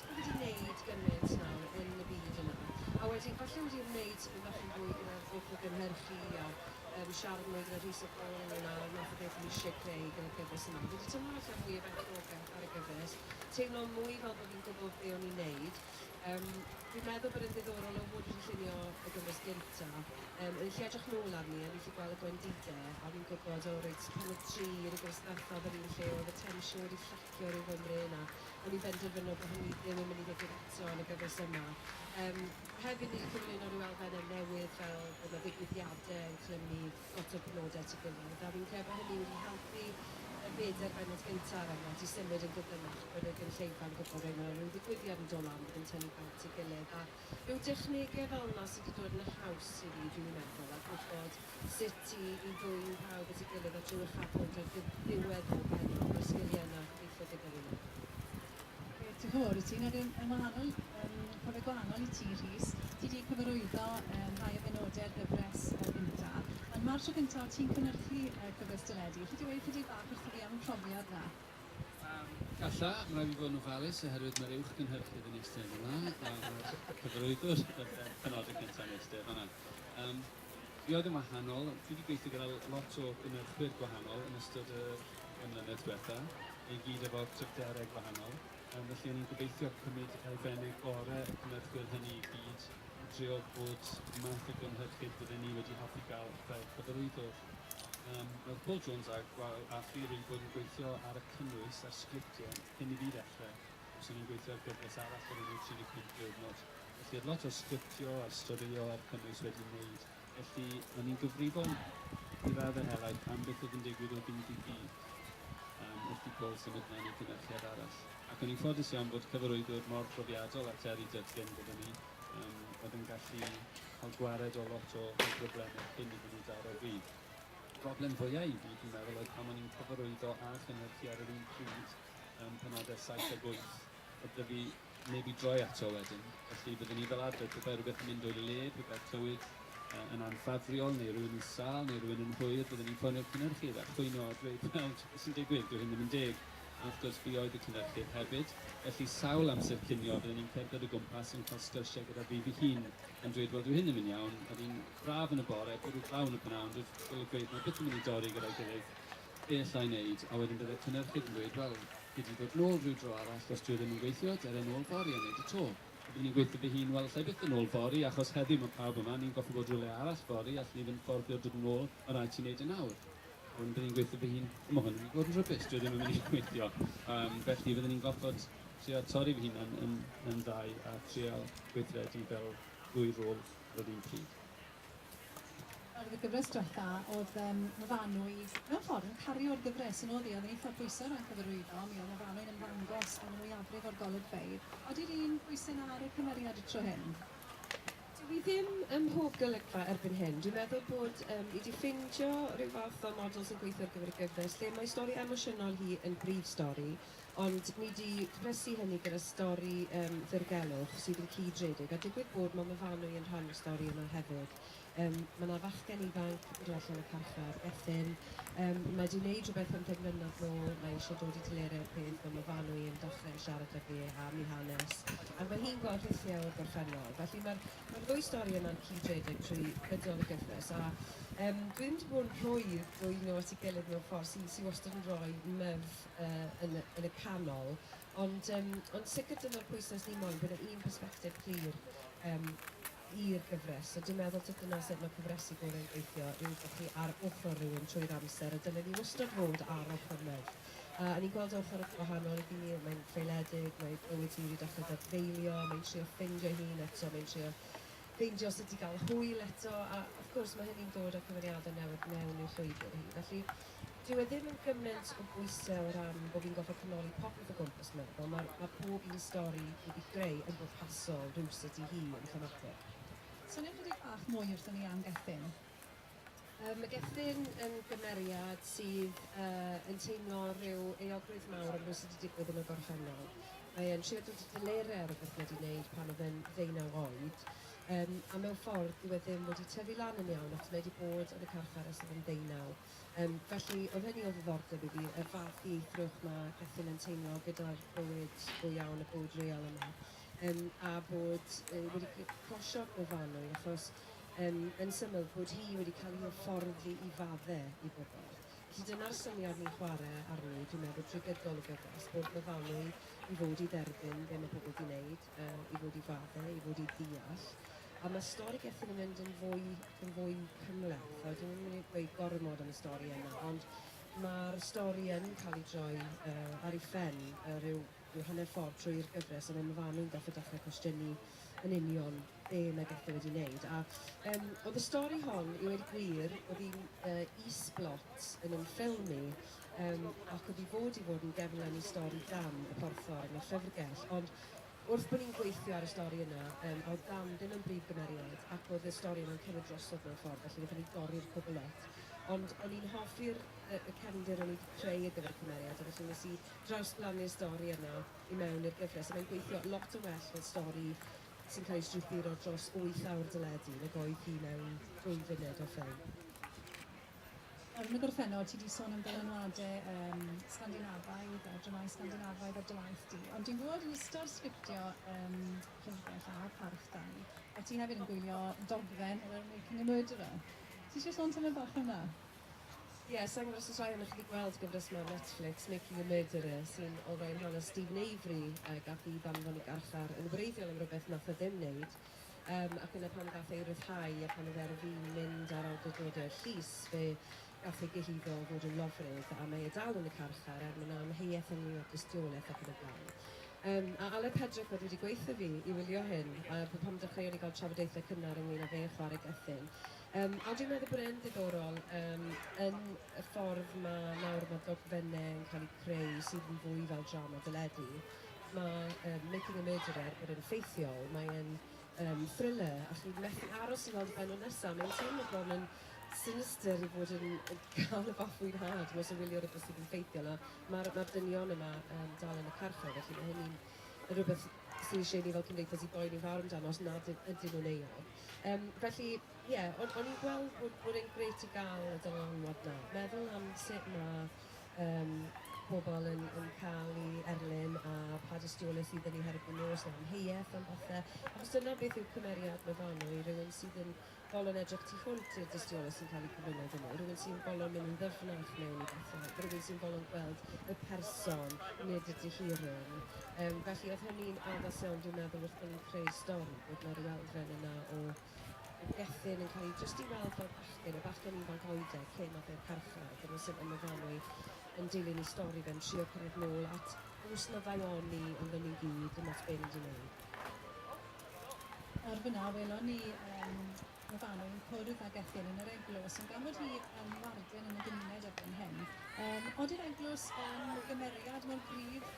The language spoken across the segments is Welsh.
Chi wedi wneud gymaint nawr yn y byd yna, a wedyn falle wedi wneud tipyn bach yn fwy gyda'r holl o gynhyrchu a um, siarad mwy gyda Rhys a Paul ynglyn â'r math o beth ni eisiau creu gyda'r gyfres yma. Fi wedi teimlo falle mwy o berchnogaeth ar y gyfres, teimlo mwy fel bod fi'n gwybod be o'n i'n neud. Um, fi'n meddwl bod yn ddiddorol o fod wedi llunio y gyfres gynta, um, o'n i'n lle edrych nôl arni, o'n i'n lle gweld y gwendide, a fi'n gwybod, o reit, pan oedd tri yn y gyfres ddethaf, yr un lle oedd y tensiwn wedi llacio Cwricwlwm yng Nghymru yna, o'n i'n benderfynol bod hynny ddim yn mynd i ddigwydd eto yn y gyfres yma. Yym, hefyd ni 'di cyflwyno ryw elfenne newydd fel bod 'na ddigwyddiade yn clymu lot o'r penode at 'i gilydd, a fi'n credu bod hynny wedi helpu y bedair bennod gynta' ar enghraifft i symud yn gyflymach, bod y gynulleidfa'n gwbod reit ma' 'na ryw ddigwyddiad yn do' lan bydd yn tynnu pawb at 'i gilydd a yw technegau fel 'na sydd 'di dod yn haws i fi, dwi'n meddwl, a gwybod sut i i ddwyn pawb at ei gilydd a trwy uchafbwynt ar ddi- ddiwedd bob pennod, ma'r sgiliau yna gobeithio gyda fi nawr. Ie, diolch yn fawr i ti. Nawr yn yn wahanol, yn profiad gwahanol i ti, Rhys, ti 'di cyfarwyddo yy rhai o benodau ar gyfres yy gynta', ond ma'r tro cynta' o't ti'n cynyrchu yy cyfres deledu. Alli di weud chydig bach wrtho fi am y profiad 'na? Galla, mae'n rhaid i fi fod yn ofalus oherwydd mae'r uwch gynhyrchydd yn eistedd yma a'r cyfarwyddwr yn penodyn cyntaf yn eistedd fanna. Um, fi oedd yn wahanol, fi wedi gweithio gyda lot o gynhyrchwyr gwahanol yn ystod y ymlynedd diwetha, i gyd efo cryfderau gwahanol, um, felly o'n i'n gobeithio cymryd elfennau gorau y cynhyrchwyr hynny i gyd, i drio bod math o gynhyrchydd bydden ni wedi hoffi gael fel cyfarwyddwr. Yym roedd Paul Jones a gwael a Ffi wedi bod yn gweithio ar y cynnwys a'r sgriptiau cyn i fi ddechrau. Os o'n i'n gweithio ar gyfres arall o'r enw 35 diwrnod. Felly oedd lot o'r sgriptio a'r storïo a'r cynnwys wedi wneud. Felly o'n i'n gyfrifol i raddau helaeth am beth oedd yn digwydd o ddydd i ddydd um, wrth i Paul symud mlaen i gynyrchiad arall. Ac o'n i'n ffodus iawn bod cyfarwyddwr mor brofiadol a Terry Dudgan gyda ni um, oedd yn gallu cael gwared o lot o broblemau cyn iddyn nhw daro fi. Y broblem fwyaf i fi, dwi'n meddwl, oedd pan o'n i'n cyfarwyddo a chynhyrchu ar yr un pryd um, penodau 7 ac 8, oedd dy fi neb i droi ato wedyn. Felly byddwn ni fel arfer, pe bai rhywbeth yn mynd o'i le, pe bai'r clywyd yn anffafriol neu rhywun yn sal neu rhywun yn hwyr, byddwn ni'n ffonio'r cynhyrchydd a chwyno a dweud, wel, sy'n digwydd, dwi hyn ddim yn deg. A wrth gwrs, fi oedd y cynhyrchydd hefyd, felly sawl amser cinio fydden ni'n cerdded o gwmpas yn cael sgyrsiau gyda fi fy hun, yn dweud, 'Wel, dyw hyn ddim yn iawn, oedd hi'n braf yn y bore, bwrw glaw yn y p'nawn, ond wrth golygfeydd mae byth yn mynd i dorri gyda'i gilydd, be alla i wneud? A wedyn bydde'r cynhyrchydd yn dweud, 'Wel, gei di ddod nôl ryw dro arall, os dyw e ddim yn gweithio, dere nôl fory a wneud y to. A bydden i'n gweutho fy hun, 'Wel, alla i byth ddod nôl fory, achos heddiw mae pawb yma, ni'n gorfod bod rywle arall fory, allen ni ddim fforddio dod nôl, mae'n rhaid ti wneud e nawr. Ond byddwn i'n gweithio fy hun, ond mae hwn yn mynd i fod yn rhybus, dwi ddim yn mynd i gweithio. Um, felly fyddwn i'n gorfod trio torri fy hunan yn, yn ddau a trio gweithredu fel ddwy rôl ar yr un pryd. Ar y gyfres diwetha, oedd um, Myfanwy mewn ffordd yn cario'r gyfres yn oedd hi, oedd yn eitha pwysau rhan cyfarwyddo, mi oedd Myfanwy'n ymddangos yn y mwyafrif o'r golygfeydd. Ydy'r un pwysau na ar y cymeriad y tro hyn? Dw i ddim ym mhob golygfa erbyn hyn. Dwi'n meddwl bod um, i di ffindio rhyw fath o model sy'n gweithio ar gyfer y gyfres lle mae stori emosiynol hi yn brif stori, ond ni di cwplesu hynny gyda stori um, ddirgelwch sydd yn cyd-redeg, a digwydd bod mae Myfanwy yn rhan o'r stori yma hefyd. Um, mae yna fachgen ifanc yn dod allan o carchar, Ethin, Yym, mae 'di wneud rhywbeth am ddim mlynedd nôl, mae eisiau dod i delerau'r peth, mae Myfanwy yn dechrau siarad 'da fi am ei hanes, ac mae hi'n gweld rhithiau o'r gorffennol. Felly mae'r mae'r ddwy stori yna'n cyd-redeg trwy gydol y gyfres, a yym, dwi ddim 'di bod yn rhwydd dwyn nhw at ei gilydd mewn ffordd sy sy wastad yn rhoi myf yy yn y yn y canol, ond yym ond sicr dyna'r pwyslais ni moyn, bod 'na un persbectif clir. Yym. i'r gyfres. So dwi'n meddwl tib dyna sut mae cyfresu gorau'n gweithio yw bod chi ar ochr rhywun trwy'r amser a dylen ni wastad fod ar ochr merch. A o'n i'n gweld ochr gwahanol i fi, mae'n creuledig, mae bywyd hi wedi dechrau dadfeilio, mae'n trio ffeindio'i hun eto, mae'n trio ffeindio sut i gael hwyl eto a wrth gwrs mae hynny'n dod â cyfeiriadau newydd mewn i'w llwybr hi. Felly, Dyw e ddim yn gyment o bwysau o ran bod fi'n gorfod canoli popeth o gwmpas meddwl, mae ma pob un stori fi wedi creu yn bwrpasol rywsut i hi yn themateg. Soniwch chydig bach mwy wrthon ni am Gethin. Yy mae Gethin yn gymeriad sydd yy yn teimlo rhyw euogrwydd mawr am rywsut wedi digwydd yn y gorffennol. Mae e'n trio dod i delerau ar rywbeth mae wedi wneud pan oedd e'n ddeunaw oed. Yym, a mewn ffordd, dyw e ddim wedi tyfu lan yn iawn, achos mae e 'di bod yn y carchar ers oedd yn ddeunaw. Yym, felly, oedd hynny o ddiddordeb i fi, y fath ieithrwch ma' Gethin yn teimlo gyda'r bywyd go iawn, y bywyd real yma. Yym, a bod yy wedi c- closio'r gofannwyl, achos, yym, yn syml, bod hi wedi cael ei hyfforddi i fadde i bobl. Felly, dyna'r syniad ni'n chware arni, dwi'n meddwl, drwy gydol y gyfres, bod myfanwy i fod i dderbyn be ma' pobl 'di neud, o i fod i fadde, i fod i ddeall. A mae stori Gethin yn mynd yn fwy ac yn fwy cymhleth. A dwi'n mynd i dweud gormod am y stori yna, ond mae'r stori yn cael ei droi uh, ar ei phen uh, rhyw, rhyw hanner ffordd trwy'r gyfres, ond mae fan nhw'n gallu dechrau cwestiynu yn union be mae Gethin wedi wneud. A um, oedd y stori hon, i wedi gwir, oedd hi'n uh, is-blot yn ymffilmu, Yym, ac oedd hi fod i fod yn gefnlen i stori Dam, y porthor, yn y llyfrgell. Ond wrth bod ni'n gweithio ar y stori yna, yym, a oedd Dam ddim yn brif gymeriad, ac oedd y stori yna'n cymryd drosodd mewn ffordd, felly wnaethon ni dorri'r cwbl off. Ond o'n i'n hoffi'r yy y cefndir o'n i 'di creu ar gyfer y cymeriad, a felly wnes i drawsblannu'r stori yna i mewn i'r gyfres, a mae'n gweithio lot yn well fel stori sy'n cael ei strwythuro dros wyth awr deledu nag oedd hi mewn dwy funud o ffilm. Yn y gorffennol, ti wedi sôn am ddylanwadau um, Sgandinafaidd a dramau Sgandinafaidd ar dy waith di, ond dwi'n gwybod yn ystod sgriptio um, Llyfrgell a Parch da, a ti hefyd yn gwylio dogfen o'r enw Making a Murderer. Ti eisiau sôn tymed bach am na? Ie, yeah, sa'n gwybod os oes rhai o'n chi wedi gweld gyfres mewn Netflix, Making a Murderer, sy'n olrhain rhan o Stephen Avery, uh, gath i ddanfon i garchar yn wreiddiol am rhywbeth nath o ddim wneud, Yym, ac yna pan gath ei ryddhau a pan oedd e ar fin mynd ar awdurdod y llys, fe gath ei gyhuddo o fod yn lofrudd, a mae e dal yn y carchar, er mae 'na amheuaeth ynglŷn â dystiolaeth ac yn y blaen. Yym, a alle Pedrick fod wedi gweutho fi i wylio hyn, a b- pan dechreuon ni gael trafodaethau cynnar ynglŷn â fe chwarae Gethin. Yym, a dwi'n meddwl bod e'n ddiddorol yym, yn y ffordd mae nawr mae dogfennau yn cael eu creu sydd yn fwy fel drama deledu, Mae um, Making a Murderer bod yn ffeithiol, mae'n um, thriller, a chi'n methu aros i weld y benod nesaf. Mae'n teimlo bron yn sinister i fod yn cael y fath fwynhad mas o wylio rhywbeth sydd yn ffeithiol. A mae'r ma dynion yma um, dal yn y carchar, felly mae hynny'n rhywbeth sy'n eisiau ni fel cymdeithas i boeni fawr amdano os nad ydyn nhw'n euog. Um, felly, ie, yeah, o'n, on i'n gweld bod, bod e'n gret i gael y dylanwad na. Meddwl am sut mae Yym ac pobl yn yn cael eu erlyn a pa dystiolaeth sydd 'da ni herbyn nhw, os 'na amheuaeth am bethe. Achos dyna beth yw cymeriad Myfanwy, rhywun sydd yn bolon edrych tu hwnt i'r dystiolaeth sy'n cael ei cyflwyno iddyn nhw, rhywun sy'n bolon mynd yn ddyfnach mewn i bethau, rhywun sy'n bolon gweld y person, nid y dihiryn. Yym felly oedd hynny'n addas iawn dwi'n meddwl wrth bo' ni'n creu'r stori, bod 'na ryw elfen yna o Mae'r gerdyn yn cael ei drystiweld fel bachgen, y bachgen ifanc oedeg, cyn ma be'r carchar, dyna sut mae Myfanwy yn dilyn ei stori fe'n trio cyrraedd nôl at bws na ddaw oni ond o'n ni'n gyd ddim ots be ni di neud. Nawr fynna welon ni yym Myfanwy yn cwrdd â gerdyn yn yr eglws ond gan fod hi yn warden yn y gymuned erbyn hyn yym odi'r eglws yn gymeriad mor gryf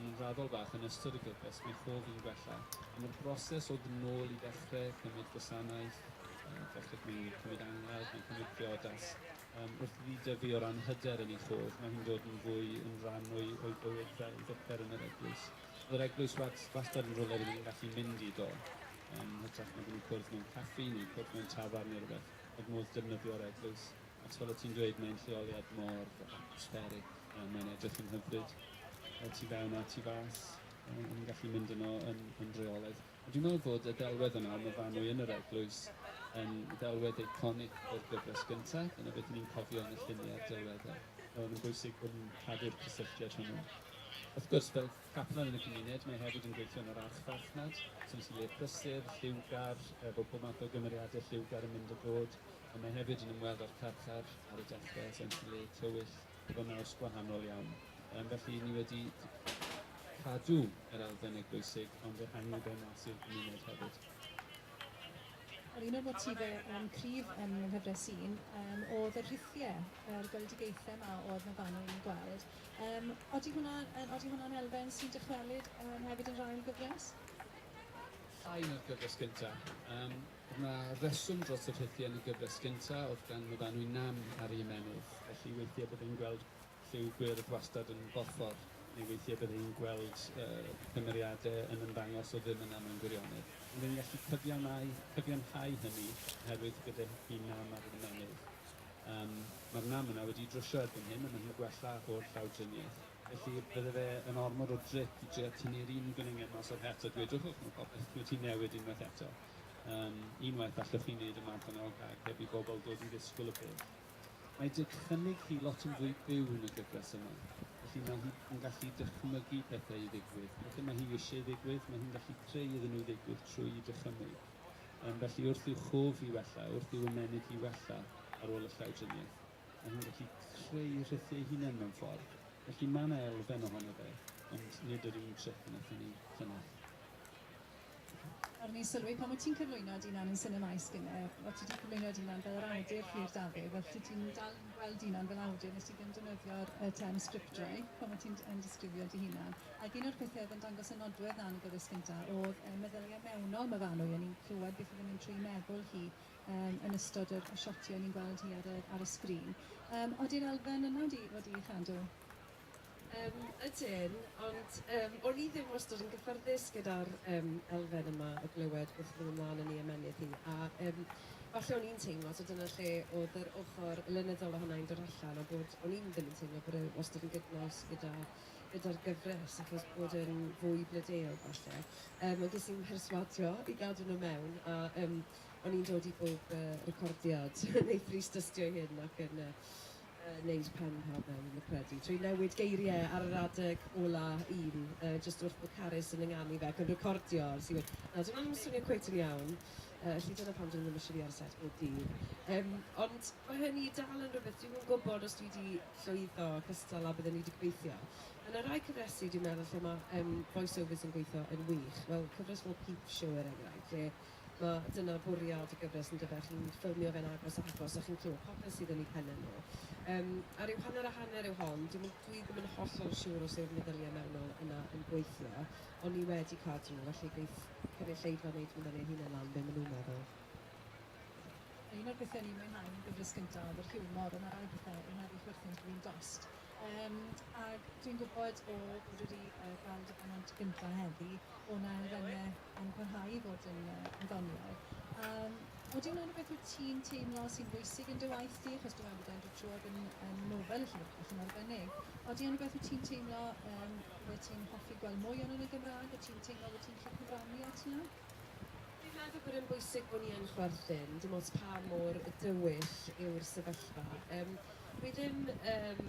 Yn yn raddol bach yn ystod y gyfres mae hof fi'n gwella am yr broses o fyn nôl i ddechre cymryd gwasanaeth yy dechre cymryd cymryd angladd neu cymryd priodas yym wrth i fi dyfu o ran hyder yn ei chof mae hi'n dod yn fwy yn ran o'i o'i bywyd fel vicar yn yr eglwys o'dd yr eglwys wats- wastad yn rwle rydyn ni'n gallu mynd i do yym hytrach nag yn cwrdd mewn caffi neu cwrdd mewn tafarn neu rwbeth o'dd modd defnyddio'r eglwys Achos fel o' ti'n dweud mae'n lleoliad mor atmospheric a mae'n edrych yn hyfryd y tu fewn a'r tu fas a o'n i'n gallu mynd yno yn yn rheolaidd. A dwi'n meddwl fod y ddelwedd yna am y fannwy yn yr eglwys yn ddelwedd eiconig o'r gyfres gynta', dyna beth 'yn ni'n cofio yn y llunie a'r delwedde. Mae o'n bwysig bod ni'n cadw'r cysylltiad hwnnw. Wrth gwrs, fel caplan yn y cymuned, mae hefyd yn gweithio yn yr archfarchnad, so nes i le prysur, lliwgar, efo pob math o gymeriade lliwgar yn mynd a dod. Ond mae hefyd yn ymweld â'r carchar ar y dechrau, sef yn lle tywyll efo naws gwahanol iawn. Yym, felly ni wedi cadw yr elfen eglwysig ond ehangu fe mas i'r gymuned hefyd. Wel, un o'r motifau yym cryf ym Nghyfres Un yym oedd y rhithiau, yr gweledigaethau 'ma oedd 'na fan'na i ni gweld. Yym, odi hwnna yn odi hwnna'n elfen sy'n dychwelyd yym hefyd yn yr ail gyfres? Llai na'r cyfres gynta'. Yym. Dyma reswm dros y rhythie yn y gyfres gynta, o'dd gan Myfanwy nam ar ei ymennydd, felly weithie bydde hi'n gweld lliw gwyrdd wastad yn borffor, neu weithie bydde hi'n gweld y cymeriade yn ymddangos o ddim yna mewn gwirionedd. Ond yn gallu cyfiawnau, cyfiawnhau hynny, oherwydd gyda hi nam ar yr ymennydd. Yym, ma'r nam yna wedi drwsio erbyn hyn, a ma' hi'n gwella o'r llawdriniaeth. Felly, bydde fe yn ormod o drip i drio tynnu'r un gwningen mas o'r het a dweud, 'Wch, wch, ma' popeth wedi newid unwaith eto. Yym, unwaith allwch chi wneud y math yna o gag heb i bobl ddod i ddisgwyl y peth. Mae dychymyg hi lot yn fwy byw yn y gyfres yma, felly mae hi yn gallu dychmygu pethau i ddigwydd. Pethau mae hi eisiau ddigwydd, mae hi'n gallu creu iddyn nhw ddigwydd trwy'i dychymyg. Yym, felly wrth i'w chof hi wella, wrth i'w ymennydd hi wella ar ôl y llawdriniaeth, mae hi'n gallu creu rhithiau ei hunan mewn ffordd. Felly mae 'na elfen ohono fe, ond nid yr un tric wnaethon ni llynedd. O'n i'n sylwi pan o ti'n cyflwyno dy unan yn sinema i Skinner, o ti 'di cyflwyno dy unan fel yr awdur Rhydd Dafydd, fel ti ti'n dal yn gweld dy unan fel awdur, nes ti ddim defnyddio'r y term sgriptwriter pan o ti'n yn disgrifio dy hunan. Ac un o'r pethe oedd yn dangos y nodwedd 'na yn y gyfres gynta oedd y meddylia mewnol ma' Fanwy, o'n i'n clywed beth oedd yn mynd trwy 'i meddwl hi yym yn ystod yr y siotie o'n i'n gweld hi ar y ar y sgrin. Yym odi'r elfen yna wedi wedi ei chadw? Yym ydyn, ond yym o'n i ddim wastod yn gyffyrddus gyda'r yym elfen yma o glywed wrth fynd ymlaen yn ei ymennydd hi, a yym falle o'n i'n teimlo, so dyna lle o'dd yr ochor lenyddol ohona i'n dod allan, a bod o'n i'm ddim yn teimlo bod e wastod yn gydnaws gyda gyda'r gyfres achos bod e'n fwy blodeuog falle. Yym ond ges i'n mherswadio i gadw nhw mewn, a yym o'n i'n dod i bob yy recordiad yn ei thrist-dystio'i hun ac yn yy neud pen ha mewn yn fy credu trwy newid geirie ar yr adeg ola un yy jyst wrth bo Carys yn ynganu fe ac yn recordio ers i we- na dyw wna'm yn swnio cweit yn iawn yy felly dyna pam dwi ddim isio fi ar y set bob dydd yym ond ma' hynny dal yn rwbeth dwi'm yn gwbod os dwi di llwyddo cystal a bydden i di gobeithio ma' na rai cyfresi dwi'n meddwl lle ma' yym voice overs yn gweitho yn wych fel cyfres fel Peep Show er enghraifft lle Ma'... dyna bwriad y gyfres yn dyfe? Chi'n ffilmio fe'n agos a agos a chi'n clywed popeth sydd yn eu penne nhw. Yym, a ryw hanner a hanner yw hon. Dwi'm yn... dwi ddim yn hollol siŵr os yw'r meddyliau mewnol yna yn gweithio, ond ni wedi cadw nhw, felly geith cynulleidfa wneud hwnna neu hunain lan be maen nhw'n meddwl. Un o'r pethau o'n i'n mwynhau yn y gyfres gyntaf oedd yr hiwmor, ond ma' rai pethau yn meddu chwerthin drwy'n dost. Yym ag dwi'n gwybod o bod wedi yy ga'l dy bennod gynta heddi o 'na elfenne yn parhau i fod yn yy yn ddoniol. Yym odi 'na rwbeth wyt ti'n teimlo sy'n bwysig yn dy waith di achos dwi'n meddwl bod e yn dod trwodd yn yn nofel y llyfr bach yn arbennig. Odi yn rwbeth wyt ti'n teimlo yym byddet ti'n hoffi gweld mwy ohono yn y Gymra'g, wyt ti'n teimlo bo' ti'n gallu cyfrannu at 'na? Dwi'n meddwl bod e'n bwysig bod ni yn chwerthin, dim ots pa mor dywyll yw'r sefyllfa. Yym, dwi ddim yym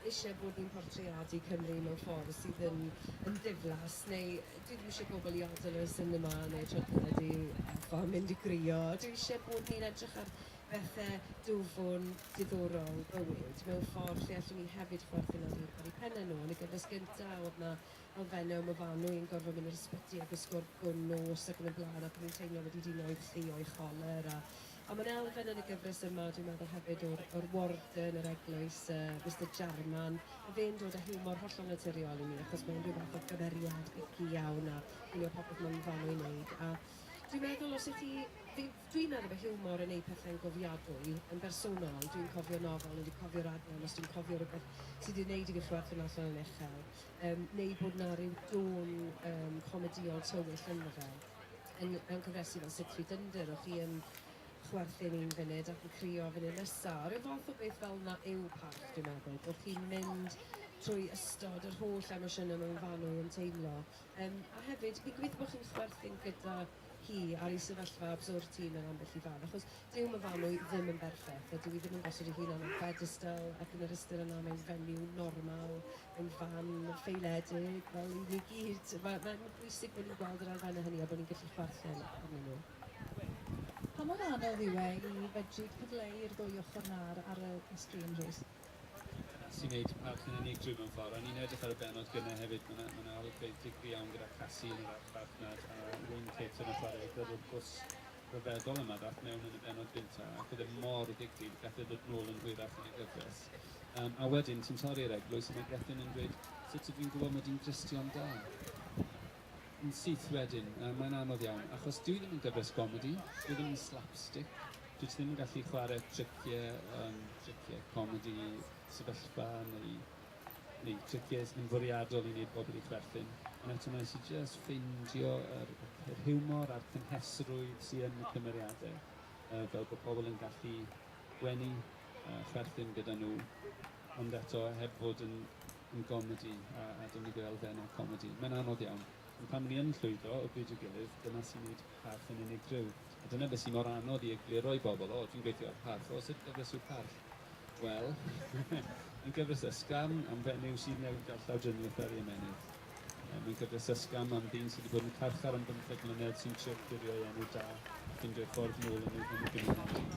isie bod ni'n portreadu Cymru mewn ffordd sydd yn yn ddiflas, neu dwi ddim isie pobl i adael y sinema neu Twt Celedi Alpha a mynd i gwrio. Dwi isie bod ni'n edrych ar bethe dwfwn, diddorol, bywyd, mewn ffordd lle allwn ni hefyd chwerthin ar eu ar eu penne nhw. Yn y gyfres gynta, o'dd 'na o fenna ma fanw i'n gorfod mynd i'r ysbyty a gwisgo gwn nos ac yn y blaen ac o'n i'n teimlo wedi dino i ffi o'i choler a a ma'n elfen yn y gyfres yma dwi'n meddwl hefyd o'r o'r warden yr eglwys yy Mister Jarman ma fe'n dod â hiwmor hollol naturiol i mi achos mae unrhyw fath o gymeriad ici iawn a un o'r popeth ma'n fanw i wneud a dwi'n meddwl os ydych chi fi dwi'n meddwl bod hiwmor yn ei pethau'n gofiadwy yn bersonol dwi'n cofio nofel neu dwi'n cofio raglen os dwi'n cofio rhywbeth sydd wedi wneud i fi chwerthin allan yn uchel Yym, neu bod 'na ryw dôn yym comedïol tywyll ynddo fe, yn yn cyfresi fel Six Feet Under, o' chi yn chwerthin un funud ac yn crio funud nesa', ryw fath o beth fel 'na yw Parch dwi'n meddwl, bo' chi'n mynd trwy ystod yr holl emosiyne mewn fan o yn teimlo. Yym, a hefyd, fi'n gobeithio bo' chi'n chwerthin gyda hi ar ei sefyllfa absurd hi mewn ambell i fan, achos dyw Myfanwy ddim yn berffaith, a dyw hi ddim yn gosod ei hun ar bedestl ac yn yr ystyr yna mae'n fenyw normal, mae'n fan ffeiledig, fel i ni gyd. Mae, mae'n bwysig bod ni'n gweld yr elfennau hynny a bod ni'n gallu chwerthin arnyn nhw. Pa mor anodd yw e i fedru cyfleu i'r ddwy ochr 'na ar ar y y sgrîn, Rhys? sy'n gwneud y parc yn unigryw mewn ffordd. O'n i'n edrych ar y benod gynnau hefyd, mae yna ma olygfeydd digri iawn gyda Cassie yn yr farchnad a Wyn Kit yn y chwarae gyrrwr bws rhyfeddol yma ddath mewn yn y benod gynta ac oedd e mor ddigri, gath e ddod nôl yn hwyrach yn y gyfres. Um, a wedyn, ti'n torri'r eglwys a mae Gethin yn dweud, sut ydw i'n gwybod mod i'n Gristion da? yn syth wedyn, yy mae'n anodd iawn, achos dwi ddim yn gyfres gomedi, dwi ddim yn slapstick, dwyt ti ddim yn gallu chwarae tricie yym tricie comedi sefyllfa neu neu tricies yn fwriadol i wneud pobl i chwerthin, ond eto wnes i jyst ffeindio yr yr hiwmor a'r cynhesrwydd sy yn y cymeriadau, yy fel bod pobl yn gallu gwenu a chwerthin gyda nhw, ond eto heb fod yn yn gomedi a a do'n i fel elfennau comedi. Mae'n anodd iawn. Ond pan ni yn llwyddo o bryd i'w gilydd, dyna sy'n neud parch yn unigryw. A dyna be' sy mor anodd i egluro i bobl, 'O, dwi'n gweithio ar Parch. O, sut gyfres yw Parch? Wel, mae'n gyfres ysgafn am fenyw sydd newydd gael llawdriniaeth ar ei ymennydd. Yy mae'n gyfres ysgafn am ddyn sy 'di bod yn carchar am bymtheg mlynedd sy'n trio clirio ei enw da a ffindio'i ffordd nôl yn ei yn ei gymuned.